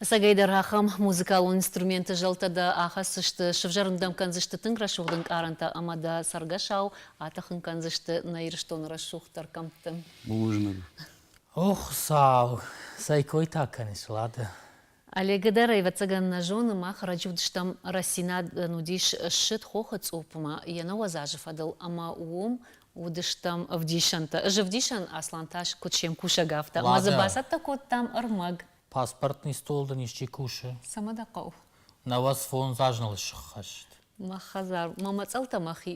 Сагайдар ахӕм музыкалон инструменты зӕлтӕ дӕ ахӕссысты, сывзӕрын дӕм кӕндзысты тынг рӕсугъд ӕнкъарӕнтӕ ӕмӕ дӕ цӕргӕсау атӕхын кӕндзысты нӕ Ирыстоны рӕсугъддӕр кӕмтты. Бузныг. О, Хуыцау, цӕй кой та кӕныс, Лада? Олега дӕр, ӕвӕццӕгӕн, нӕ зоны, мах раджы уыдыстӕм, рӕстдзинад нын уыдис ссыд хохы цъуппмӕ йӕ нӕуӕдз азы фӕдыл, ӕмӕ уым уыдыстӕм ӕвдисӕнтӕ. Ӕз ӕвдисӕн, Аслан та куыд се мкусӕг, афтӕ. Ӕмӕ дзы бацӕттӕ кодтам ӕрмӕг. Паспортный стол дын исчи кусы? Цӕмӕ дӕ хъӕуы? Нӕуӕдз фондз азыл ссыххӕст. Мӕ хӕдзар, мӕ мӕцӕлтӕ мӕхи.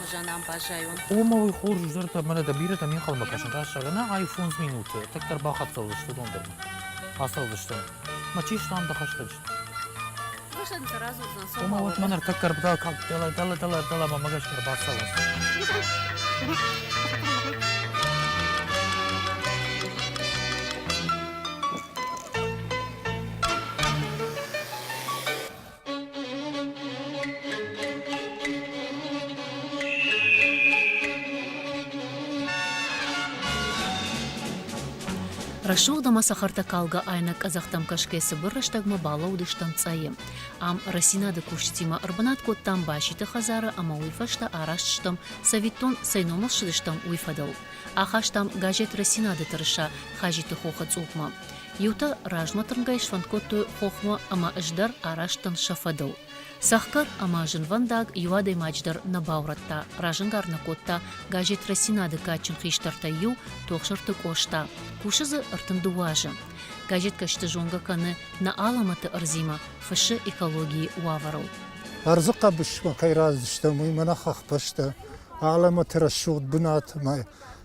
хуызӕн ам баззайон. Ома уый хорзӕхджынтӕ мӕнӕ дӕ бирӕтӕ ме нхъӕлмӕ кӕсынц, раз сӕгъӕнӕ ай фондз минуты, тынгдӕр бахӕццӕ уыдзысты дондармӕ. Ацӕудзыстӕм. Мӕ чи стам дӕ хӕстӕджыты? Рашӕн сӕ радзурдзӕн сомбал. Ома уӕд мӕн ӕртӕ кӕрбдал калд, дӕлӕ, дӕлӕ, дӕлӕ, дӕлӕ мӕ мӕгӕсгӕ ӕрбацӕуынц. Рӕсугъд ӕма цӕхӕртӕ калгӕ айнӕг къӕдзӕхтӕм кӕсгӕ цыбыр рӕстӕгмӕ балӕууыдыстӕм цъайы. Ам рӕсинады кусджытимӕ ӕрбынат кодтам Баситы хӕдзары ӕмӕ уый фӕстӕ араст стӕм, цӕвиттон, цӕй номыл ссыдыстӕм, уый фӕдыл. Ахастам газет «Рӕсинады тырыса» Хажиты хохы цъупмӕ. Иутӕ размӕ тырнгӕй сфӕнд кодтой хохмӕ ӕмӕ ӕз дӕр араст дӕн сӕ фӕдыл. Цӕхгӕр ӕмӕ зынвӕндаг иу адӕймаджы дӕр нӕ баурӕдта, разӕнгард нӕ кодта газет «Росинады» кадджын хистӕртӕй иу Тохсырты Къоста. Кусы дзы ӕртын дыууӕ азы. Газеткӕсты зонгӕ кӕны нӕ алӕмӕты ӕрдзимӕ, фыссы экологийы уавӕрыл. Ӕрдзы хъӕбысмӕ кӕй рацыдыстӕм, уый мӕнӕ хӕхбӕстӕ, алӕмӕты рӕсугъд бынат ӕмӕ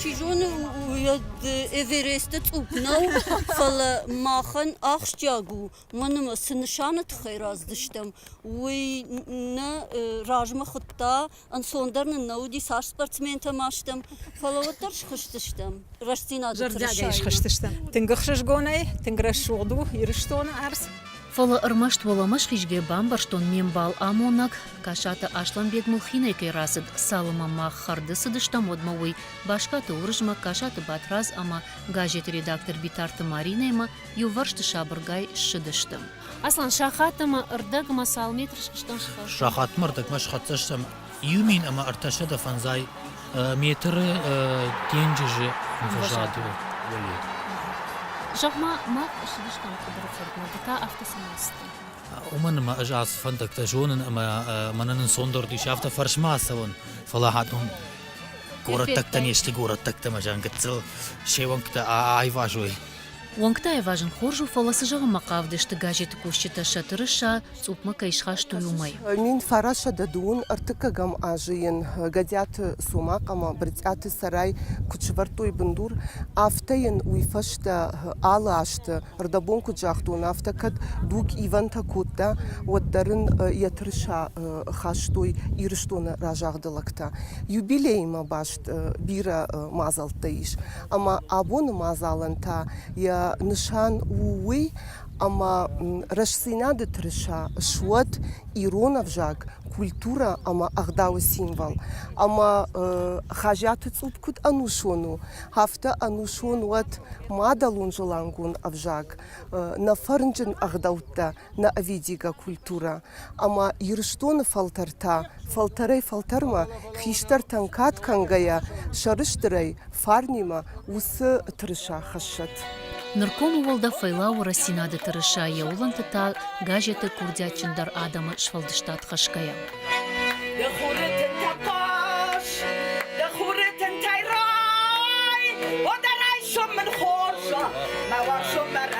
Чи зоны, уӕд Эвересты цъупп нӕу, фӕлӕ махӕн ахсджиаг у, мӕнмӕ цы нысаны тыххӕй раздыстӕм, уый нӕ размӕ хуыдта, ӕнцондӕр нын нӕ уыди, цас спортсментӕ ма стӕм, фӕлӕ уӕддӕр схызтыстӕм рӕстдзинады Зӕрдиагӕй схызтыстӕм. Тынг ӕхсызгонӕй, тынг рӕсугъд у Ирыстоны ӕрдз. Фӕлӕ ӕрмӕст уӕлӕмӕсхизгӕ бамбӕрстон ме мбал амонӕг Касаты Аслӕнбег мыл хинӕй кӕй рацыд, цалы ма мах хӕрды цыдыстӕм, уӕдмӕ уый, Баскаты Уырызмӕг, Касаты Батрадз ӕмӕ газеты редактор Битарты Маринӕимӕ иувӕрсты сабыргай ссыдысты. Аслан, сахат ӕмӕ рдӕг ӕмӕ цал метр сыстӕм схъӕр? Сахатмӕ рдӕгмӕ схӕццӕ стӕм иу мин ӕмӕ ӕртӕсӕдӕ фӕндзай метры денджызы ӕмвӕзады уӕле. Зӕгъ-ма, мах ссыдыстӕм Тыбыры фермер, ды та афтӕ цӕмӕ сты? Уымӕн ӕмӕ ӕз ацы фӕндӕгтӕ зонын ӕмӕ мӕнӕ ӕнцондӕр ис афтӕ фӕрсмӕ ацӕуын, фӕлӕ хатон горӕттӕгтӕ не сты горӕттӕгтӕ мӕ зӕнгӕццыл се уӕнгтӕ айвазой. Уӕнгтӕ айвазын хорз у, фӕлӕ цы зӕгъынмӕ хъавыдысты газеты кусджытӕ Сатыры са цъупмӕ кӕй схастой, уымӕй. Мин фарасӕдӕ дыууын ӕртыккӕгӕм азы йын Гӕдиаты Цомахъ ӕмӕ Брытъиаты Цӕрай куыд сӕвӕрдтой бындур, афтӕ йын уый фӕстӕ алы азты, рдӕбон куыд загътон, афтӕ кӕд дуг ивӕнтӕ кодта, уӕддӕр ын йӕ тырыса хастой Ирыстоны разагъды лӕгтӕ. Юбилеймӕ баст бирӕ мадзӕлттӕ ис, ӕмӕ абоны мадзалӕн та йӕ нысан у уый, ӕмӕ рӕстдзинады тырыса суӕд ирон ӕвзаг, культурӕ ӕмӕ ӕгъдауы символ. Ӕмӕ Хазиаты Цъупп куыд ӕнусон у, афтӕ ӕнусон уӕд мадӕлон зылангон ӕвзаг, нӕ фӕрнджын ӕгъдӕуттӕ, нӕ ӕвидигӕ культурӕ. ӕмӕ Ирыстоны фӕлтӕртӕ фӕлтӕрӕй-фӕлтӕрмӕ хистӕртӕн кад кӕнгӕйӕ, сӕрыстырӕй фарнимӕ уыцы тырыса хӕссӕт. Нырком уӕлдӕф фӕлӕууы Рӕстдзинад-ы тырыса йӕ уылӕнты та газеты курдиатджындӕр адӕмы сфӕлдыстад хӕсгӕйӕ. De chwreten tei roi, od ar ei siom yn chorsa, ma war siom ar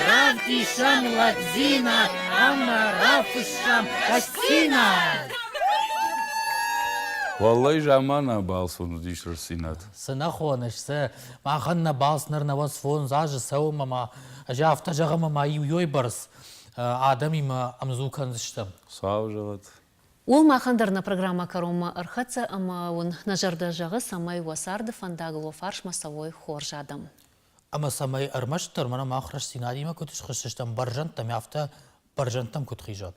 Ранкишам Ладзина, Амарафышам Кастина! Валлайы замана балц уыдис рӕсинат. Цы нӕ хоныс, цы? Махӕн нӕ балц ныр нӕуӕд сфондз азы цӕуы ӕмӕ ӕз афтӕ зӕгъым ӕмӕ иуӕй бӕрц адӕмимӕ ӕмдзу кӕндзыстӕм. Хуыцау зӕгъӕд! Уыл махӕн дӕр нӕ программӕ кӕронмӕ ӕрхӕццӕ ӕмӕ уын нӕ зӕрдӕ зӕгъы, цӕмӕй уӕ царды фӕндаг уӕ фарсмӕ цӕуой хорз адӕм. Ӕмӕ цӕмӕй ӕрмӕстдӕр мӕнӕ мах рӕстдзинадимӕ куыд схӕссыстӕм бӕрзӕндтӕм, афтӕ бӕрзӕндтӕм куыд хизат.